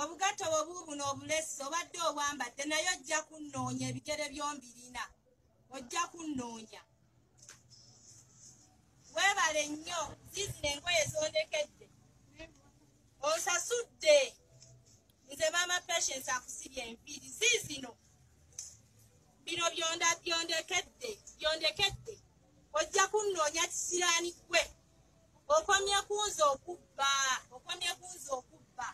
obugatto bwe buubuno obulesi obadde obwambadde naye ojja kunnoonya ebigere byombirina ojja kunnoonya weebale nnyo ziizina engoye zondekedde osasudde nze maama patience akusibye enviiri ziizino bino byonda byondekedde byondekedde ojja kunnoonya kisiraani gwe okomye kunze okubba okomye kunze okubba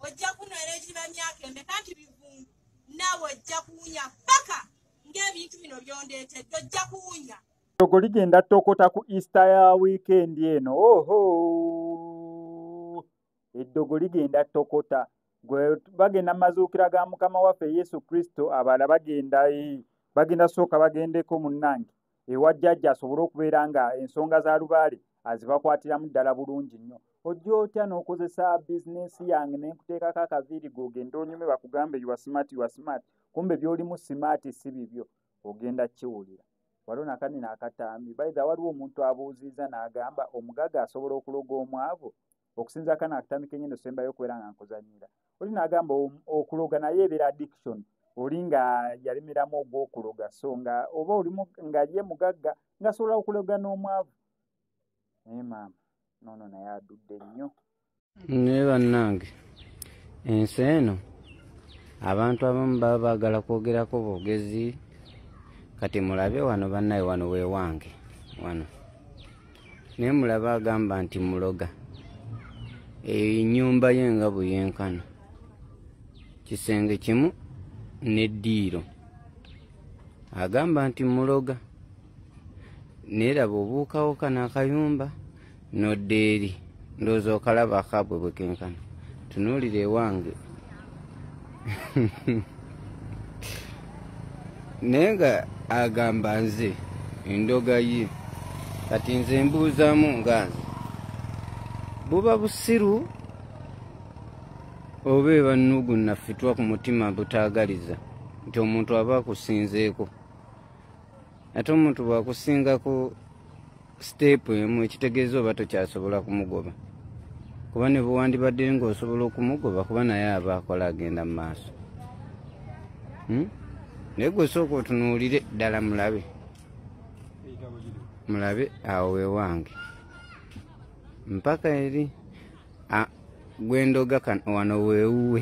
ojja kunwera egiba myaka emeka nti bivundu naawe ojja kuwunya paka ng'ebintu bino byondeetedde ojja kuwunya togo ligenda tokota ku easter ya wiikendi eno oho eddogo ligenda tokota gwe bagenda mazuukira ga mukama waffe yesu kristo abala bagenda eh, bagenda sooka bagendeko munnange ewa jjajja asobole okubeera nga ensonga za lubaale azibakwatiramu ddala bulungi nnyo ojja otya n'okozesa bizinensi yange ne nkuteekako akaviiri ge ogenda onyume bakugambe yuwa simaati yuwa simaati kumbe by'olimu simaati si bibyo ogenda kiwulira waliwo nakanina akatambi baitha waliwo omuntu abuuzizza n'agamba omugaga asobola okuloga omwavu okusinza akana akutandika enyo nosembayo okubeera nga nkuzanyira oli nagamba okuloga naye ebeera addiction oli nga yalemeramu ogwokuloga so nga oba oli nga ye mugagga ngasobola okuloga n'omwavu naye maama nono naye adudde nnyo naye bannange ensi eno abantu abamu baba baagala kwogerako bwogezi kati mulabe wano bannaye wano wewange wano naye mulaba agamba nti muloga eyo enyumba ye nga buyenkana kisenge kimu neddiiro agamba nti muloga neraba obuukawoka nakayumba nodda eri ndowooza okalaba akabwe bwekenkana tunuulira ewange naye nga agamba nze endoga ye kati nze mbuuzamu nga nze buba busiru oba ebannugu naffitwa ku mutima butaagaliza nti omuntu aba akusinzeeko ate omuntu bwakusingako siteepu emu ekitegeeza oba tokyasobola kumugoba kuba ne bwewandibadde ng'osobola okumugoba kuba naye aba akola agenda mu maaso hmm? naye gwe sooka otunuulire ddala mulabe mulabe awo wewange mpaka eri gwendoga kan wano wewuwe